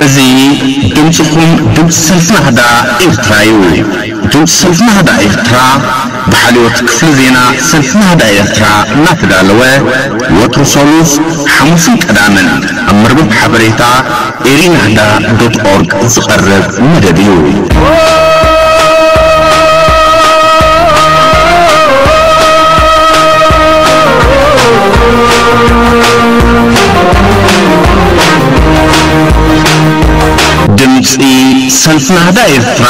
እዚ ድምጽኹም ድምጺ ሰልፊ ናህዳ ኤርትራ እዩ። ድምጺ ሰልፊ ናህዳ ኤርትራ ብሓልዮት ክፍሊ ዜና ሰልፊ ናህዳ ኤርትራ እናተዳለወ ወትሩ ሰሉስ፣ ሓሙስን ቀዳምን ኣብ መርበብ ሓበሬታ፣ Erinahna dot org ዝቐርብ መደብ እዩ። ድምጺ ሰልፊ ናህዳ ኤርትራ!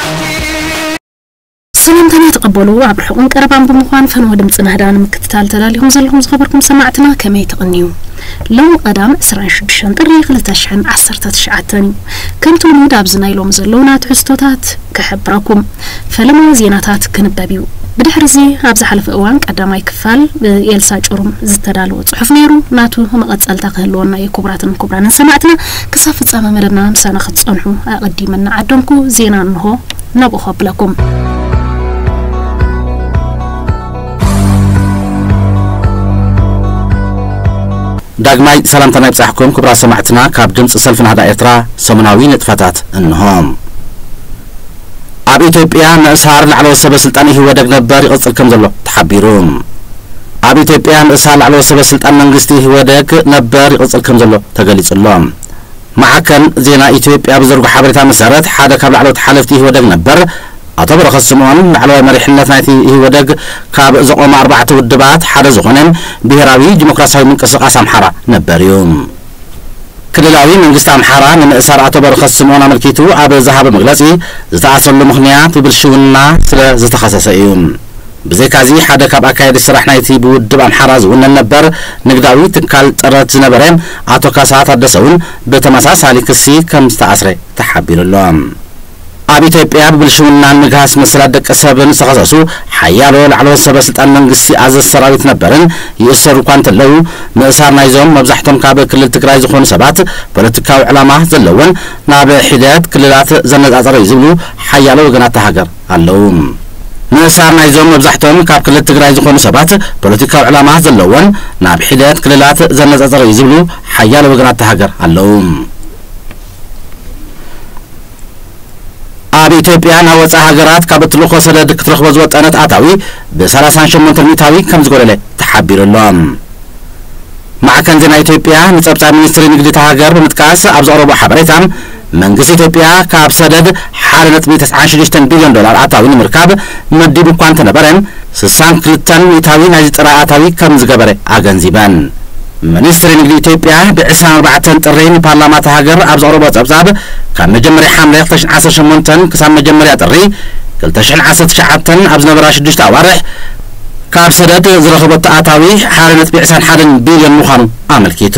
ሰላምታና ተቀበሉ ኣብ ርሑቅን ቀረባን ብምኳን ፈነወ ድምጺ ናህዳ ንምክትታል ተዳሊኩም ዘለኩም ዝከበርኩም ሰማዕትና ከመይ ትቅንዩ ሎሚ ቀዳም ዕስራን ሽዱሽተን ጥሪ ክልተ ሽሕን ዓሰርተ ትሽዓተን እዩ ከምቲ ልሙድ ኣብዚ ናይ ሎሚ ዘለውና ትሕዝቶታት ክሕብረኩም ፈለማ ዜናታት ክንበብ እዩ ብድሕሪ እዚ ኣብ ዝሓለፈ እዋን ቀዳማይ ክፋል ብኤልሳ ጩሩም ዝተዳለወ ጽሑፍ ነይሩ ናቱ መቀጸልታ ክህልወና እዩ ክቡራትን ክቡራንን ሰማዕትና ክሳብ ፍጻመ መደብና ምሳና ክትጸንሑ ኣቐዲመ እናዓደምኩ ዜና እንሆ ናብኡ ከብለኩም። ዳግማይ ሰላምታና ይብጻሕኩም ክቡራት ሰማዕትና ካብ ድምጺ ሰልፊ ናህዳ ኤርትራ ሰሙናዊ ንጥፈታት እንሆ። ኣብ ኢትዮጵያ ምእሳር ላዕለዎት ሰበ ስልጣን ኢህወደግ ነበር ይቕፅል ከምዘሎ ተሓቢሩ። ኣብ ኢትዮጵያ ምእሳር ላዕለዎት ሰበ ስልጣን መንግስቲ ኢህወደግ ነበር ይቕፅል ከምዘሎ ተገሊፁ'ሎ። ማዕከን ዜና ኢትዮጵያ ብዘርጎ ሓበሬታ መሰረት ሓደ ካብ ላዕለዎት ሓለፍቲ ኢህወደግ ነበር ኣቶ በረኸት ስምኦን ላዕለዋይ መሪሕነት ናይቲ ኢህወደግ ካብ ዘቖመ ኣርባዕተ ውድባት ሓደ ዝኾነ ብሄራዊ ዲሞክራሲያዊ ምንቅስቓስ ኣምሓራ ነበር እዩ ክልላዊ መንግስቲ ኣምሓራ ንምእሳር ኣቶ በረኸት ስምኦን ኣመልኪቱ ኣብ ዝሃቦ መግለጺ፣ ዝተኣስረሉ ምኽንያት ብብልሽውና ስለ ዝተኸሰሰ እዩ። ብዘይካ'ዚ ሓደ ካብ ኣካየድቲ ስራሕ ናይቲ ብውድብ ኣምሓራ ዝውነን ነበር ንግዳዊ ትካል ጥረት ዝነበረ ኣቶ ካሳ ታደሰ'ውን ብተመሳሳሊ ክሲ ከም ዝተኣስረ ተሓቢሩ'ሎ። ኣብ ኢትዮጵያ ብብልሽውናን ምግሃስ መሰላት ደቂ ሰብን ዝተኸሰሱ ሓያሎ ላዕለዎት ሰበ ስልጣን መንግስቲ ኣዘዝቲ ሰራዊት ነበርን ይእሰሩ እኳ እንተለዉ፣ ምእሳር ናይዞም መብዛሕቶም ካብ ክልል ትግራይ ዝኾኑ ሰባት ፖለቲካዊ ዕላማ ዘለዎን ናብ ሒደት ክልላት ዘነፃፀረ እዩ ዝብሉ ሓያሎ ወገናት እታ ሃገር ኣለዉ። ምእሳር ናይዞም መብዛሕቶም ካብ ክልል ትግራይ ዝኾኑ ሰባት ፖለቲካዊ ዕላማ ዘለዎን ናብ ሒደት ክልላት ዘነፃፀረ እዩ ዝብሉ ሓያሎ ወገናት እታ ሃገር ኣለዉ። ኣብ ኢትዮጵያ ናብ ወፃኢ ሃገራት ካብ እትልእኾ ሰደድ ክትረኽቦ ዝወጠነት ኣታዊ ብሰላሳን ሸሞንተን ሚእታዊ ከምዝጎደለ ተሓቢሩ ኣሎ። ማዕከን ዜና ኢትዮጵያ ንፀብፃብ ሚኒስትሪ ንግዲ እታ ሃገር ብምጥቃስ ኣብ ዘቕረቦ ሓበሬታ መንግስቲ ኢትዮጵያ ካብ ሰደድ ሓደ ነጥቢ ተስዓን ሽዱሽተን ቢልዮን ዶላር ኣታዊ ንምርካብ መዲቡ እኳ እንተነበረ ስሳን ክልተን ሚእታዊ ናይዚ ጥረ ኣታዊ ከም ዝገበረ ኣገንዚበን። ሚኒስትሪ ንግዲ ኢትዮጵያ ብ ዕስራን ኣርባዕተን ጥሪ ንፓርላማ እታ ሃገር ኣብ ዘቕረቦ ጸብጻብ፣ ካብ መጀመርያ ሓምለ ክልተ ሽሕን ዓሰርተ ሸሞንተን ክሳብ መጀመርያ ጥሪ ክልተ ሽሕን ዓሰርተ ትሽዓተን ኣብ ዝነበራ ሽዱሽተ ኣዋርሕ፣ ካብ ሰደድ ዝረኸበቶ ኣታዊ ሓደ ነጥቢ ዕስራን ሓደን ቢልዮን ምዃኑ ኣመልኪቱ።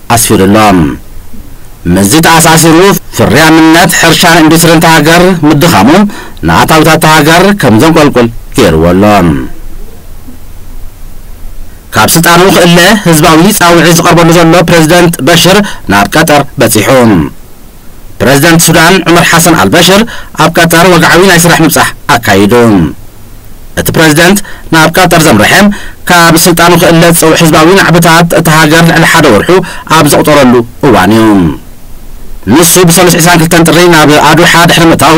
ኣስፊሩ ኣሎ። ምስዚ ተኣሳሲሩ ፍርያምነት ሕርሻን ኢንዱስትሪን እታ ሃገር ምድኻሙ ንኣታዊታት እታ ሃገር ከም ዘንቆልቁል ገይሩዎ ኣሎ። ካብ ስልጣኑ ክእለ ህዝባዊ ጻውዒት ዝቐርበሉ ዘሎ ፕረዚደንት በሽር ናብ ቀጠር በጺሑ። ፕረዚደንት ሱዳን ዑመር ሓሰን ኣልበሽር ኣብ ቀጠር ወግዓዊ ናይ ስራሕ ምብጻሕ ኣካይዱ። እቲ ፕረዚደንት ናብ ቀጠር ዘምረሐ፣ ካብ ስልጣኑ ክእለ ዝጸውዕ ህዝባዊ ናዕብታት እታ ሃገር ልዕሊ ሓደ ወርሑ ኣብ ዘቑጸረሉ እዋን'ዩ። ንሱ ብሰሉስ ዕስራን ክልተን ጥሪ ናብ ኣዱሓ ድሕሪ ምእታዉ፣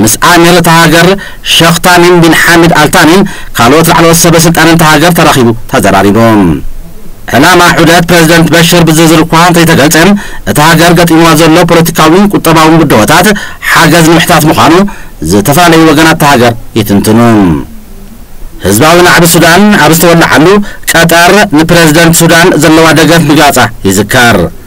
ምስ ኣሚር እታ ሃገር ሸኽ ታሚም ቢን ሓሚድ ኣል ታኒን ካልኦት ላዕለዎት ሰበ ስልጣንን እታ ሃገር ተራኺቡ ተዘራሪቡ። ዕላማ ዑደት ፕረዚደንት በሽር ብዝርዝር እኳ እንተይተገልጸ፣ እታ ሃገር ገጢምዋ ዘሎ ፖለቲካዊን ቁጠባውን ብድሆታት ሓገዝ ንምሕታት ምዃኑ ዝተፈላለዩ ወገናት እታ ሃገር ይትንትኑ። ህዝባዊ ናዕቢ ሱዳን ኣብ ዝተወለዓሉ፣ ቀጠር ንፕረዚደንት ሱዳን ዘለዋ ደገፍ ምግላጻ ይዝከር።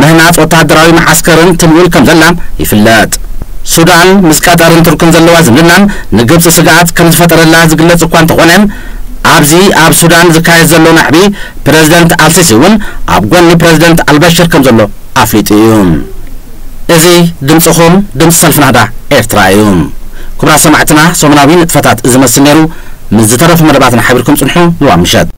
ምህናጽ ወተሃደራዊ መዓስከርን ትምውል ከምዘላ ይፍለጥ። ሱዳን ምስ ቀጠርን ቱርክን ዘለዋ ዝምድናን ንግብጺ ስግኣት ከምዝፈጠረላ ዝግለጽ እኳ እንተኾነ፣ ኣብዚ ኣብ ሱዳን ዝካየድ ዘሎ ናዕቢ ፕረዚደንት ኣልሲሲ እውን ኣብ ጎኒ ፕረዚደንት ኣልበሽር ከምዘሎ ኣፍሊጡ እዩ። እዚ ድምጽኹም ድምጺ ሰልፊ ናህዳ ኤርትራ እዩ። ክቡራት ሰማዕትና ሰሙናዊ ንጥፈታት እዚ መስል ነይሩ። ምስ ዝተረፉ መደባትና ሓቢርኩም ጽንሑ። ልዋም ምሸት።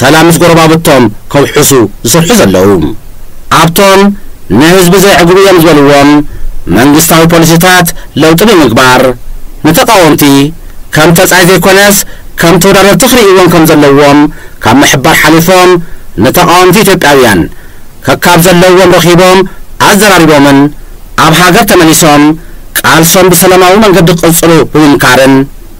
ሰላም ምስ ጎረባብቶም ከውሕሱ ዝሰርሑ ዘለዉ ኣብቶም ንህዝቢ ዘየዕግቡ እዮም ዝበልዎም መንግስታዊ ፖሊሲታት ለውጢ ብምግባር ንተቓወምቲ ከም ተጻይ ዘይኮነስ ከም ተወዳደርቲ ክርእይዎም ከም ዘለዎም ካብ ምሕባር ሓሊፎም ንተቓወምቲ ኢትዮጵያውያን ከካብ ዘለዎም ረኺቦም ኣዘራሪቦምን ኣብ ሃገር ተመሊሶም ቃልሶም ብሰለማዊ መንገዲ ክቕጽሉ ብምምካርን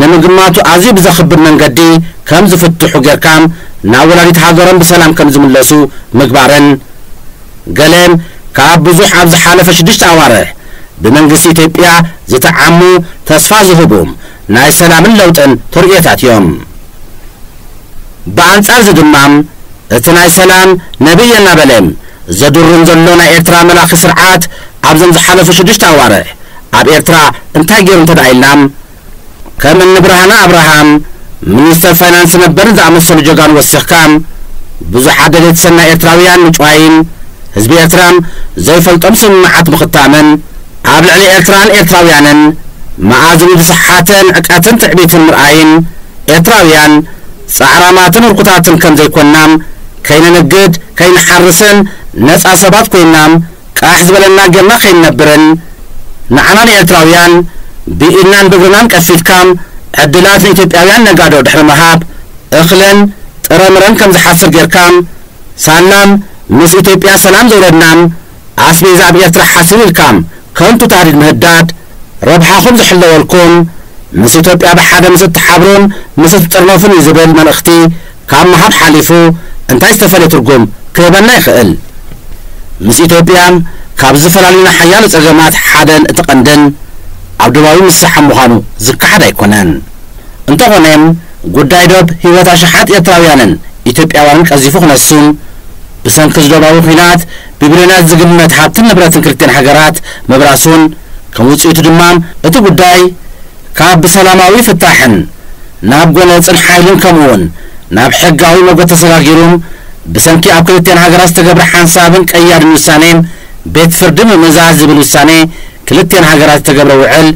ንምግማቱ ኣዝዩ ብዘኽብድ መንገዲ ከም ዝፍትሑ ጌርካ ናብ ወላዲት ሃገሮም ብሰላም ከም ዝምለሱ ምግባርን ገለ ካብ ብዙሕ ኣብ ዝሓለፈ ሽዱሽተ ኣዋርሕ ብመንግስቲ ኢትዮጵያ ዝተዓሙ ተስፋ ዝህቡ ናይ ሰላምን ለውጥን ተርእዮታት እዮም። ብኣንጻርዚ ድማ እቲ ናይ ሰላም ነቢይ እናበለ ዘድሩም ዘሎ ናይ ኤርትራ መላኺ ስርዓት ኣብዘም ዝሓለፉ ሽዱሽተ ኣዋርሕ ኣብ ኤርትራ እንታይ ጌሩ እንተድኣ ኢልና ከም እኒ ብርሃነ ኣብርሃም፣ ሚኒስተር ፋይናንስ ነበር፣ ዝኣመሰሉ ጀጋኑ ወሲኽካ፣ ብዙሓት ደለይቲ ሰናይ ኤርትራውያን ምጭዋይን፣ ህዝቢ ኤርትራ ዘይፈልጦም ስምምዓት ምኽታምን፣ ኣብ ልዕሊ ኤርትራን ኤርትራውያንን መኣዝኑ ዝሰሓተ ንዕቀትን ትዕቢትን ምርኣይን፣ ኤርትራውያን ጻዕራማትን ህርኩታትን ከም ዘይኮንና፣ ከይንንግድ፣ ከይንሓርስን ነጻ ሰባት ኮይንና፣ ቃሕ ዝበለና ጌርና ከይንነብርን ንዓና ንኤርትራውያን ብኢድናን ብእግርናን ቀፊድካ ዕድላት ንኢትዮጵያውያን ነጋዶ ድሕሪ ምሃብ እኽለን ጥረምረን ከም ዝሓስር ጌርካ ሳላ ምስ ኢትዮጵያ ሰላም ዘውረድናን ኣስቤዛ ኣብ ኤርትራ ሓሲሩ ኢልካ ከንቱ ታህዲድ ምህዳድ ረብሓኹም ዝሕለወልኩም ምስ ኢትዮጵያ ብሓደ ምስ እትሓብሩን ምስ እትጥርነፉን እዩ ዝብል መልእኽቲ ካብ ምሃብ ሓሊፉ እንታይ ዝተፈልየ ትርጉም ክህበና ይኽእል? ምስ ኢትዮጵያ ካብ ዝፈላልዩና ሓያሎ ጸገማት ሓደን እቲ ቀንድን ኣብ ዶባዊ ምስሕሓብ ምዃኑ ዝከሓድ ኣይኮነን። እንተኾነ ጉዳይ ዶብ ህይወት ኣሽሓት ኤርትራውያንን ኢትዮጵያውያንን ቀዚፉ ክነሱ፣ ብሰንኪ እዚ ዶባዊ ኲናት ብቢልዮናት ዝግመት ሃብትን ንብረትን ክልቲኤን ሃገራት ምብራሱን ከም ውጽኢቱ ድማ እቲ ጉዳይ ካብ ብሰላማዊ ፍታሕን ናብ ጎነጽን ሓይልን ከምኡውን ናብ ሕጋዊ መጎት ተሰጋጊሩ ብሰንኪ ኣብ ክልቲኣን ሃገራት ዝተገብረ ሓንሳብን ቀያድን ውሳኔ ቤት ፍርዲ ምምእዛዝ ዝብል ውሳኔ ክልቲኣን ሃገራት ዝተገብረ ውዕል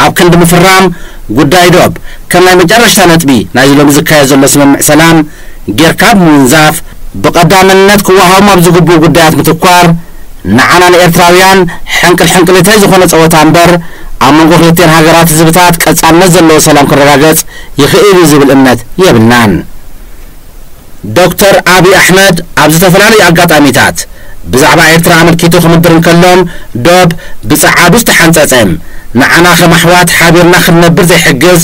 ኣብ ክንዲ ምፍራም ጉዳይ ዶብ ከም ናይ መጨረሽታ ነጥቢ ናይዚ ሎሚ ዝካየድ ዘሎ ስምምዕ ሰላም ጌርካ ብምውንዛፍ ብቐዳምነት ክወሃቦም ኣብ ዝግብኡ ጉዳያት ምትኳር ንዓና ንኤርትራውያን ሕንቅል ሕንቅሊተይ ዝኾነ ጸወታ እምበር፣ ኣብ መንጎ ክልቲኤን ሃገራት ህዝብታት ቀጻልነት ዘለዎ ሰላም ክረጋገጽ ይኽእል እዩ ዝብል እምነት የብልናን። ዶክተር ኣቢይ ኣሕመድ ኣብ ዝተፈላለዩ ኣጋጣሚታት ብዛዕባ ኤርትራ ኣመልኪቱ ክምድር እንከሎ፣ ዶብ ብጸዓዱ ዝተሓንጸጸ፣ ንዓና ከም ኣሕዋት ሓቢርና ክንነብር ዘይሕግዝ፣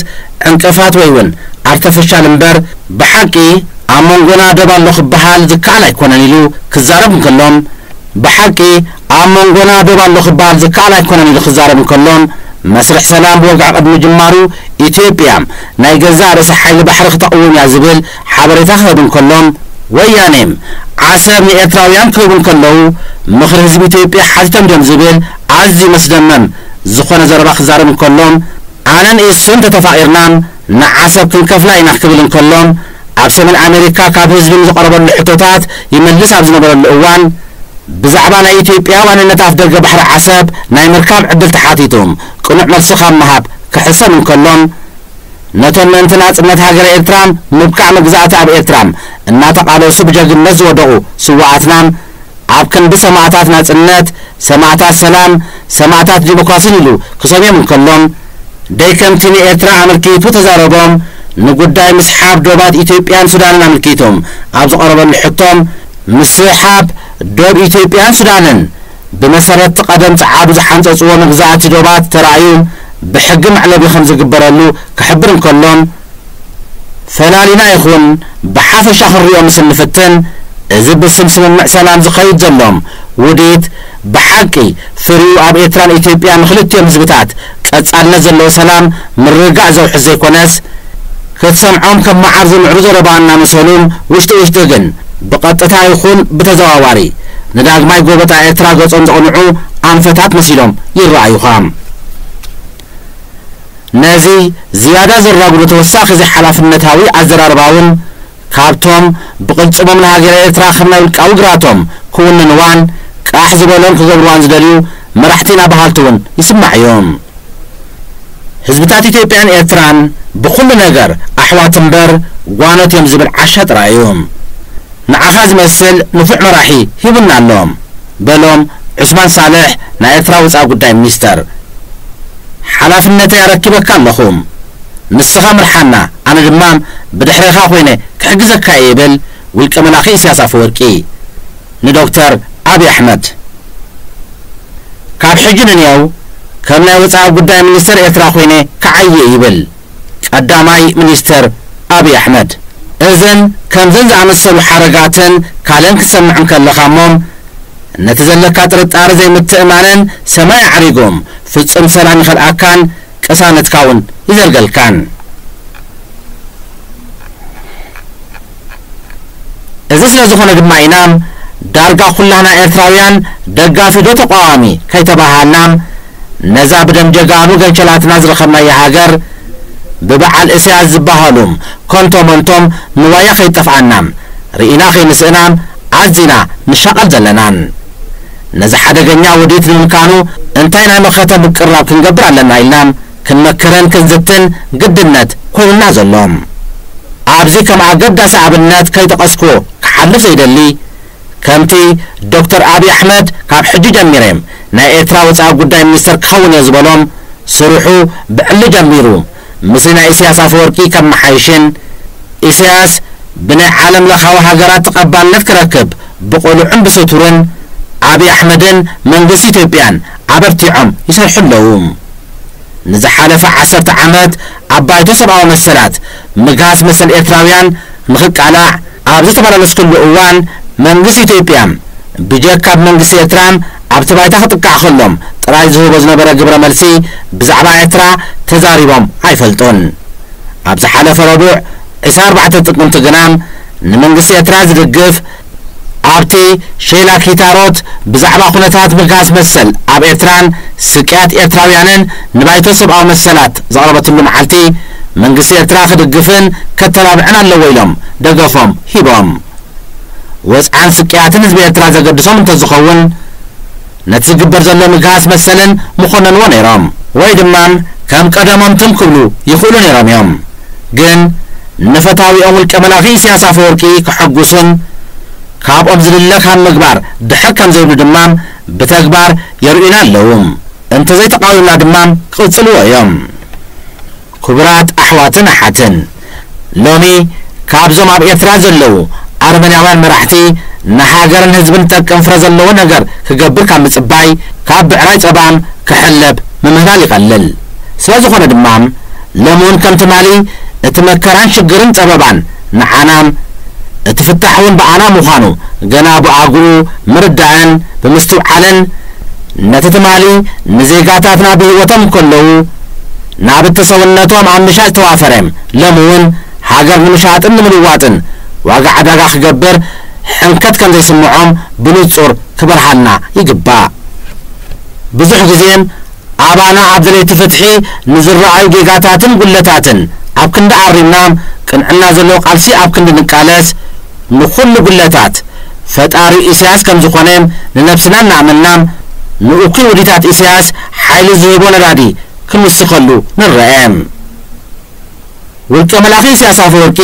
ዕንቅፋት ወይ ውን ኣርተፍሻል እምበር ብሓቂ ኣብ መንጎና ዶብ ኣሎ ክበሃል ዝከኣል ኣይኮነን ኢሉ ክዛረብ እንከሎ ብሓቂ ኣብ መንጎና ዶብ ኣሎ ክበሃል ዝከኣል ኣይኮነን ኢሉ ክዛረብ እንከሎ መስርሕ ሰላም ብወግዒ ቅድሚ ምጅማሩ ኢትዮጵያ ናይ ገዛእ ርእሳ ሓይሊ ባሕሪ ክተቕውም እያ ዝብል ሓበሬታ ክህብ እንከሎ ወያኔ ዓሰብ ንኤርትራውያን ክህቡ እንከለዉ ምኽሪ ህዝቢ ኢትዮጵያ ሓቲቶም ድዮም ዝብል ኣዝዩ መስደመም ዝኾነ ዘረባ ክዛረብ እንከሎ ኣነን ኢሱን ተተፋቂርና ንዓሰብ ክንከፍላ ኢና ክብል እንከሎ ኣብ ሰሜን ኣሜሪካ ካብ ህዝቢ ንዝቀረበሉ ሕቶታት ይመልስ ኣብ ዝነበረሉ እዋን ብዛዕባ ናይ ኢትዮጵያ ዋንነት ኣፍደገ ባሕሪ ዓሰብ ናይ ምርካብ ዕድል ተሓቲቱ ቅኑዕ መልሲ ካብ ምሃብ ክሕሰም እንከሎ ነቶም ምእንቲ ናጽነት ሃገረ ኤርትራ ምብቃዕ መግዛእቲ ኣብ ኤርትራ እናተቃለሱ ብጀግንነት ዝወደቁ ስዋኣትና ኣብ ክንዲ ሰማእታት ናጽነት፣ ሰማእታት ሰላም፣ ሰማእታት ዲሞክራሲን ኢሉ ክሰምዮም እንከሎ፣ ደይ ከምቲ ንኤርትራ ኣመልኪቱ እተዛረቦ፣ ንጉዳይ ምስሓብ ዶባት ኢትዮጵያን ሱዳንን ኣመልኪቱ ኣብ ዝቐረበሉ ሕቶ፣ ምስሓብ ዶብ ኢትዮጵያን ሱዳንን ብመሰረት'ቲ ቀደም ጸዓዱ ዝሓንጸጽዎ መግዛእቲ ዶባት ተራእዩ ብሕጊ መዕለቢ ከም ዝግበረሉ ክሕብር እንከሎ፣ ፈላሊና ይኹን ብሓፈሻ ክንሪኦ ምስ እንፍትን እዚ ብስም ስምምዕ ሰላም ዝኸይድ ዘሎ ውዲት ብሓቂ ፍሪኡ ኣብ ኤርትራን ኢትዮጵያን ንክልቲኦም ህዝብታት ቀጻልነት ዘለዎ ሰላም ምርግጋእ ዘውሕስ ዘይኮነስ ክትሰምዖም ከም መዓር ዝምዕሩ ዘረባ እናመሰሉን ውሽጢ ውሽጢ ግን ብቐጥታ ይኹን ብተዘዋዋሪ ንዳግማይ ጎበጣ ኤርትራ ገጾም ዘቕንዑ ኣንፈታት መሲሎም ይረኣዩኻ። ነዚ ዝያዳ ዘራጉዱ ተወሳኺ ዘይሓላፍነታዊ ኣዘራርባውን ካብቶም ብቕልጽሞም ንሃገረ ኤርትራ ከም ናይ ውልቃዊ ግራቶም ክውንንዋን ቃሕ ዝበሎን ክገብርዋን ዝደልዩ መራሕቲ ኢና በሃልቲ እውን ይስማዕ እዩ። ህዝብታት ኢትዮጵያን ኤርትራን ብኹሉ ነገር ኣሕዋት እምበር ጓኖት እዮም ዝብል ዓሻ ጥራይ እዩ። ንዓኻ ዝመስል ንፉዕ መራሒ ሂቡና ኣሎ። በሎም ዑስማን ሳልሕ ናይ ኤርትራ ወጻኢ ጉዳይ ሚኒስተር። ሓላፍነተይ ኣረኪበካ ኣለኹ። ንስኻ ምርሓና ኣነ ድማ ብድሕሬኻ ኮይነ ክሕግዘካ'የ ይብል ውልቀ መላኺ ኢሳያስ ኣፈወርቂ ንዶክተር ኣቢ ኣሕመድ። ካብ ሕጂ ንንየው ከም ናይ ወጻኢ ጉዳይ ሚኒስተር ኤርትራ ኮይነ ክዓይ'የ ይብል። ቀዳማይ ሚኒስተር ኣብይ ኣሕመድ። እዘን ከምዘን ዝኣመሰሉ ሓረጋትን ካልእን ክትሰምዕ እንከለኻ እሞ ነቲ ዘለካ ጥርጣረ ዘይምትእማንን ሰማይ ኣዕሪጉ ፍጹም ሰላም ይኸልኣካን ቅሳነትካ እውን ይዘርገልካን። እዚ ስለ ዝኾነ ድማ ኢና ዳርጋ ኩላህና ኤርትራውያን ደጋፊ ዶ ተቋዋሚ ከይተባሃሃልና ነዛ ብደም ጀጋኑ ገንቸላትና ዝረኸብናያ ሃገር ብበዓል እስያስ ዝባሃሉ ከንቶ መንቶም ንዋያ ከይጠፍኣና ርኢና ከይንስእና ኣዚና ንሻቐል ዘለናን። ነዚ ሓደገኛ ውዲት ንምምካኑ እንታይ ናይ መኸተ ምቅርራብ ክንገብር ኣለና ኢልና ክንመክርን ክንዝትን ግድነት ኮይኑና ዘሎ። ኣብዚ ከም ኣገዳሲ ኣብነት ከይጠቐስኩ ክሓልፍ ዘይደሊ፣ ከምቲ ዶክተር ኣብይ ኣሕመድ ካብ ሕጂ ጀሚረ ናይ ኤርትራ ወጻኢ ጉዳይ ሚኒስተር ክኸውን'የ ዝበሎም፣ ስርሑ ብዕሊ ጀሚሩ ምስሊ ናይ ኢሰያስ ኣፈወርቂ ከመሓይሽን፣ ኢሰያስ ብናይ ዓለም ለኻዊ ሃገራት ተቐባልነት ክረክብ ብቕሉዕን ብስቱርን ኣብይ ኣሕመድን መንግስቲ ኢትዮጵያን ኣበርቲዖም ይሰርሑ ኣለዉ። ንዝሓለፈ ዓሰርተ ዓመት ኣብ ባይቶ ሰብኣዊ መሰላት ምግሃስ መሰል ኤርትራውያን ንኽቃላዕ ኣብ ዝተመላለስኩሉ እዋን መንግስቲ ኢትዮጵያ ብጀካ ብ መንግስቲ ኤርትራ ኣብቲ ባይታ ክጥቃዕ ከሎም ጥራይ ዝህቦ ዝነበረ ግብረ መልሲ ብዛዕባ ኤርትራ ተዛሪቦም ኣይፈልጡን ኣብ ዝሓለፈ ረቡዕ ዕስራ ኣርባዕተ ጥቅምቲ ግና ንመንግስቲ ኤርትራ ዝድግፍ ኣብቲ ሼላ ኪታሮት ብዛዕባ ኩነታት ምግሃስ መሰል ኣብ ኤርትራን ስቅያት ኤርትራውያንን ንባይቶ ሰብኣዊ መሰላት ዘቕረበትሉ መዓልቲ፣ መንግስቲ ኤርትራ ክድግፍን ከተባብዕን ኣለዎ ኢሎም ደገፎም ሂቦም። ወጽዓን ስቅያትን ህዝቢ ኤርትራ ዘገድሶም እንተዝኸውን፣ ነቲ ዝግበር ዘሎ ምግሃስ መሰልን ምኹነንዎ ነይሮም ወይ ድማ ከም ቀደሞም ትም ክብሉ ይኽእሉ ነይሮም እዮም ግን ንፈታዊኦም ውልቀ መላኺ ኢሰያስ ኣፈወርቂ ከሐጉሱን ካብኦም ዝድለ ካብ ምግባር ድሕር ከም ዘይብሉ ድማ ብተግባር የርእዩና ኣለዉ እንተዘይተቓዊምና ድማ ክቕጽልዎ እዮም። ኩቡራት ኣሕዋትን ኣሓትን ሎሚ ካብዞም ኣብ ኤርትራ ዘለዉ ኣረመንያውያን መራሕቲ ንሃገርን ህዝብን ዝጠቅም ፍረ ዘለዎ ነገር ክገብር ካብ ምጽባይ ካብ ብዕራይ ጸባም ክሕለብ ምምህላል ይቀልል ስለዝኾነ ድማ ሎሚ ውን ከም ትማሊ እቲ መከራን ሽግርን ጸበባን ንዓና እቲ ፍታሕ ውን ብኣና ምዃኑ ገና ብኣግኡ ምርዳእን ብምስትውዓልን ነቲ ትማሊ ንዜጋታትና ብሂወቶም እንከለዉ ናብቲ ሰውነቶም ኣብ ምሻጥ ዝተዋፈረ ሎሚ እውን ሃገር ንምሻጥን ንምልዋጥን ዋጋ ዕዳጋ ክገብር ሕንከት ከም ዘይስምዖም ብንጹር ክበርሃልና ይግባእ። ብዙሕ ግዜ ኣባና ኣብ ደለይቲ ፍትሒ ንዝረኣዩ ጌጋታትን ጉድለታትን ኣብ ክንዲ ኣሪምና ቅንዕና ዘለዎ ቃልሲ ኣብ ክንዲ ንቃለስ ንኹሉ ጉድለታት ፈጣሪ ኢሳያስ ከም ዝኾነ ንነብስና እናኣመንና ንእኩይ ውዲታት ኢሳያስ ሓይሊ ዝህቦ ነዳዲ ክምስኸሉ ንረኤ። ውልቀ መላኺ ኢሳያስ ኣፈወርቂ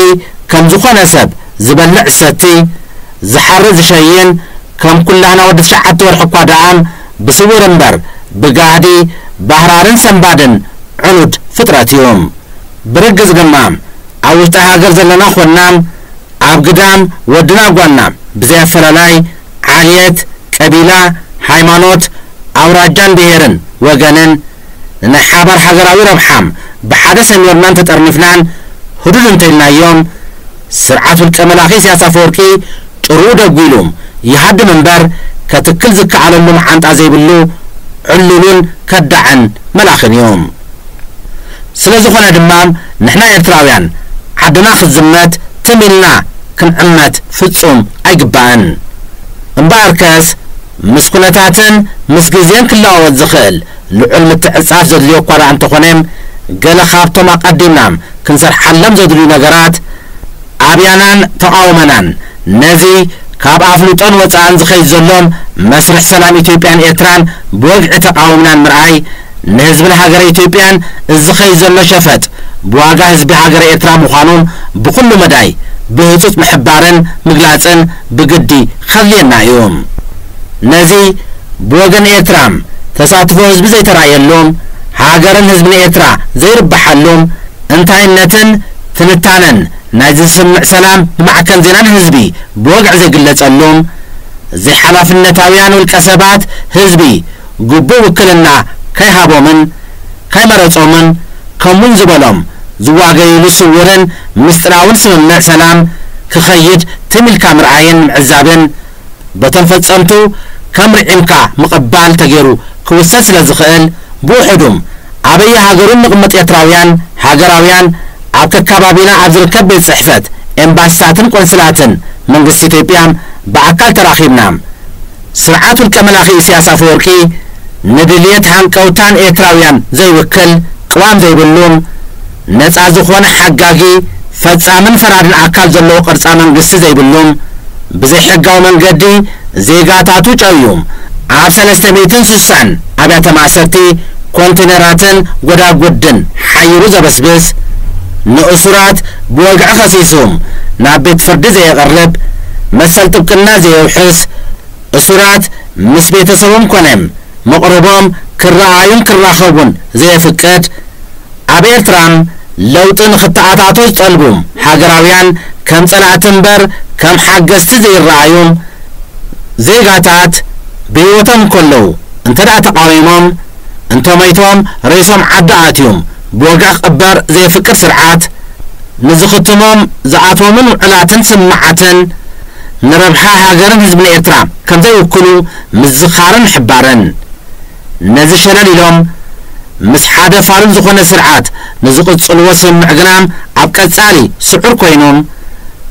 ከም ዝኾነ ሰብ ዝበልዕ ዝሰቲ፣ ዝሓሪ ዝሸይን፣ ከም ኩላህና ወዲ ትሽዓተ ወርሒ እኳ ደኣም ብስውር እምበር ብጋህዲ ባህራርን ሰንባድን ዕኑድ ፍጥረት እዩ። ብርግጽ ድማ ኣብ ውሽጢ ሃገር ዘለና ኾንና ኣብ ግዳም ወድና ጓልና ብዘይ ኣፈላላይ፣ ዓልየት፣ ቀቢላ፣ ሃይማኖት፣ ኣውራጃን ብሄርን ወገንን ንናይ ሓባር ሃገራዊ ረብሓም ብሓደ ሰሚርናን ተጠርኒፍናን ህዱድ እንተኢልናዮም ስርዓት ውልቀ መላኺ ኢሳያስ ኣፈወርቂ ጭርኡ ደጒሉም ይሃድም እምበር ከትክል ዝከኣለሉ መዓንጣ ዘይብሉ ዕሉሉን ከዳዕን መላኽን እዩ። ስለዝኾነ ድማም ንሕና ኤርትራውያን ዓድና ክትዝመት ትም ኢልና ክንዕመት ፍጹም ኣይግባእን። እምበኣርከስ ምስ ኩነታትን ምስ ግዜን ክለዋወጥ ዝኽእል ልዑል ምትዕጽጻፍ ዘድልዮ እኳ ደኣ እንተኾነም ገለ ካብቶም ኣቐዲምናም ክንሰርሓሎም ዘድልዩ ነገራት ኣብያናን ተቓውመናን ነዚ ካብ ኣፍልጦን ወጻእን ዝኸይድ ዘሎም መስርሕ ሰላም ኢትዮጵያን ኤርትራን ብወግዒ ተቓዊምናን ምርኣይ ንህዝብን ሃገረ ኢትዮጵያን ዝኸይ ዘሎ ሸፈጥ ብዋጋ ህዝቢ ሃገረ ኤርትራ ምዃኑ ብኹሉ መዳይ ብህጹጽ ምሕባርን ምግላጽን ብግዲ ከድልየና እዩ። ነዚ ብወገን ኤርትራም ተሳትፎ ህዝቢ ዘይተራእየሉ፣ ሃገርን ህዝብን ኤርትራ ዘይርብሓሉ፣ እንታይነትን ትንታነን ናይዚ ስምምዕ ሰላም ብማዕከን ዜናን ህዝቢ ብወግዒ ዘይግለጸሉ፣ ዘይሓላፍነታውያን ውልቀሰባት ህዝቢ ግቡእ ውክልና ከይሃቦምን ከይመረጾምን ከምውን ዝበሎም ዝዋገይሉ ስውርን ምስጢራውን ስምምዕ ሰላም ክኸይድ ትም ኢልካ ምርኣይን ምዕዛብን በቶም ፈጸምቱ ከም ርዒምካ ምቕባል ተገይሩ ክውሰድ ስለ ዝኽእል ብውሑዱም ኣበየ ሃገሩን ንቕመጥ ኤርትራውያን ሃገራውያን ኣብ ከካባቢና ኣብ ዝርከብ ቤት ጽሕፈት ኤምባሲታትን ቆንስላትን መንግስቲ ኢትዮጵያ ብኣካል ተራኺብና ስርዓት ውልቀ መላኺ ኢሰያስ ኣፈወርቂ ንድልየት ሃንቀውታን ኤርትራውያን ዘይውክል ቅዋም ዘይብሉን ነጻ ዝኾነ ሓጋጊ ፈጻምን ፈራድን ኣካል ዘለዎ ቅርጻ መንግስቲ ዘይብሉን ብዘይሕጋዊ መንገዲ ዜጋታቱ ጨውዩም ኣብ ሰለስተ ሚእትን ስሳን ኣብያተ ማእሰርቲ ኮንቲነራትን ጎዳጉድን ሓይሩ ዘበስብስ ንእሱራት ብወግዒ ከሲሱም ናብ ቤት ፍርዲ ዘየቕርብ መሰል ጥብቅና ዘየውሕስ፣ እሱራት ምስ ቤተሰቦም ኮነ መቕርቦም ክረኣዩን ክራኸቡን ዘየፍቅድ፣ ኣብ ኤርትራ ለውጢ ንኽተኣታቶ ዝጠልቡ ሃገራውያን ከም ጸላእቲ እምበር ከም ሓገዝቲ ዘይረኣዩ ዜጋታት ብህይወቶም እንከለዉ እንተደኣ ተቓዊሞም እንተሞይቶም ሬሶም ዓዲ ኣትዩም ብወግዒ ክቕበር ዘየፍቅድ ስርዓት፣ ንዝኽትሞም ዝኣትዎምን ውዕላትን ስምምዓትን፣ ንረብሓ ሃገርን ህዝብን ኤርትራ ከም ዘይውክሉ ምዝኻርን ምሕባርን። ነዚ ሸለል ኢሎም ምስ ሓደ ፋሉል ዝኾነ ስርዓት ንዝቕጽልዎ ስምምዕ ግና ኣብ ቀጻሊ ስዑር ኮይኖም፣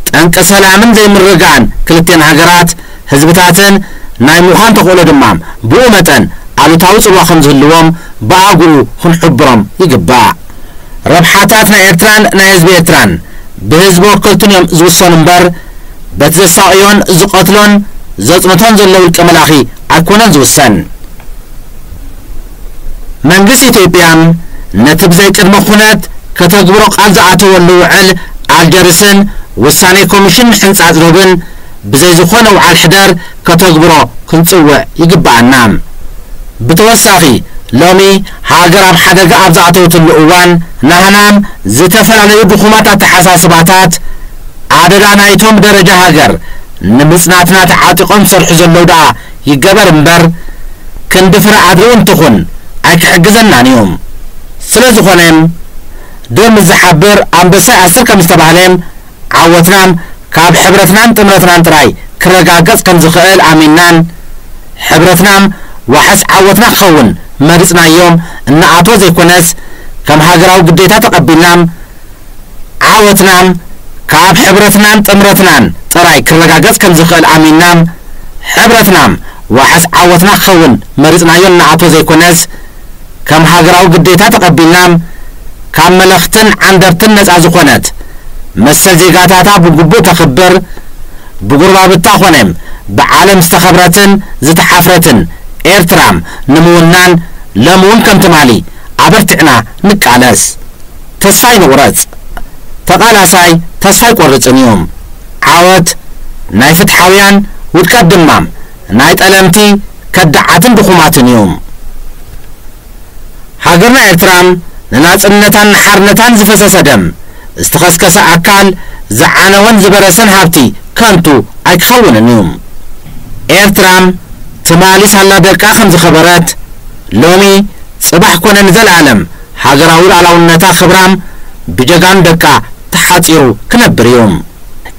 ጠንቂ ሰላምን ዘይምርግጋእን ክልቲኤን ሃገራት፣ ህዝብታትን ናይ ምዃን ተኽእሎ ድማ ብኡ መጠን ኣሉታዊ ጽልዋ ከም ዝህልዎም ብኣግኡ ክንሕብሮም ይግባእ። ረብሓታት ናይ ኤርትራን ናይ ህዝቢ ኤርትራን ብህዝቢ ወከልቱን እዮም ዝውሰኑ እምበር በቲ ዘሳቕዮን ዝቐትሎን ዘጽንቶን ዘሎ ውልቀ መላኺ ኣይኮነን ዝውሰን። መንግስቲ ኢትዮጵያ ነቲ ብዘይ ቅድመ ኩነት ከተግብሮ ቃል ዝኣተወሉ ውዕል ኣልጀርስን ውሳኔ ኮሚሽን ምሕንጻጽ ዶብን፣ ብዘይ ዝኾነ ውዓል ሕደር ከተግብሮ ክንጽውዕ ይግበኣና። ብተወሳኺ ሎሚ ሃገር ኣብ ሓደጋ ኣብ ዝኣተወትሉ እዋን ናህናም ዝተፈላለዩ ድኹማት ኣተሓሳስባታት ኣደዳ ናይቶም ብደረጃ ሃገር ንምጽናትና ተዓጢቖም ዝሰርሑ ዘለዉ ደኣ ይገበር እምበር ክንዲ ፍረ ኣድሪ እውን ትኹን ኣይክሕግዘናን እዩ። ስለዝኾነ ዶ ምስ ዝሓብር ኣንበሳይ ኣስር ከምዝተባህለ ዓወትናን ካብ ሕብረትናን ጥምረትናን ጥራይ ክረጋገጽ ከም ዝኸእል ኣሚንናን ሕብረትናም ዋሕስ ዓወትና ክኸውን መሪጽናዮም እንኣትዎ ዘይኮነስ ከም ሃገራዊ ግዴታ ተቐቢልናም ዓወትናም ካብ ሕብረትናን ጥምረትናን ጥራይ ክረጋገጽ ከም ዝኸእል ኣሚንናም ሕብረትናም ዋሕስ ዓወትና ክኸውን መሪጽናዮ እንኣትዎ ዘይኮነስ ከም ሃገራዊ ግዴታ ተቐቢልና ካብ መለኽትን ዓንደርትን ነጻ ዝኾነት፣ መሰል ዜጋታታ ብግቡእ ተኽብር፣ ብጉርባብታ ኮነ ብዓለም ዝተኸብረትን ዝተሓፍረትን ኤርትራ ንምውናን ሎሚ'ውን ከም ትማሊ ኣበርቲዕና ንቃለስ። ተስፋ ኣይንቑረጽ። ተቓላሳይ ተስፋ ኣይቆርጽን እዩ። ዓወት ናይ ፍትሓውያን፣ ውድቀት ድማ ናይ ጠለምቲ ከዳዓትን ድኹማትን እዩም። ሃገርና ኤርትራ ንናጽነታን ንሓርነታን ዝፈሰሰ ደም፣ ዝተኸስከሰ ኣካል፣ ዝዓነወን ዝበረሰን ሃብቲ ከንቱ ኣይክኸውንን እዩ። ኤርትራ ትማሊ ሳላ ደቃ ከም ዝኸበረት፣ ሎሚ ጽባሕ ኮነ ንዘልኣለም ሃገራዊ ልኣላውነታ ክብራ ብጀጋኑ ደቃ ተሓጺሩ ክነብር እዩ።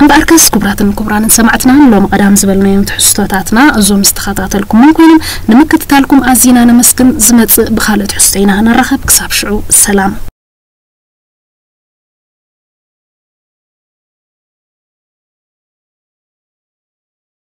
እምበኣርከስ ክቡራትን ክቡራንን ሰማዕትና ንሎሚ ቀዳም ዝበልናዮም ትሕዝቶታትና እዞም ዝተኸታተልኩሞም ኮይኖም ንምክትታልኩም ኣዚና ነመስግን ዝመጽእ ብኻልእ ትሕዝቶ ኢና ንራኸብ ክሳብ ሽዑ ሰላም።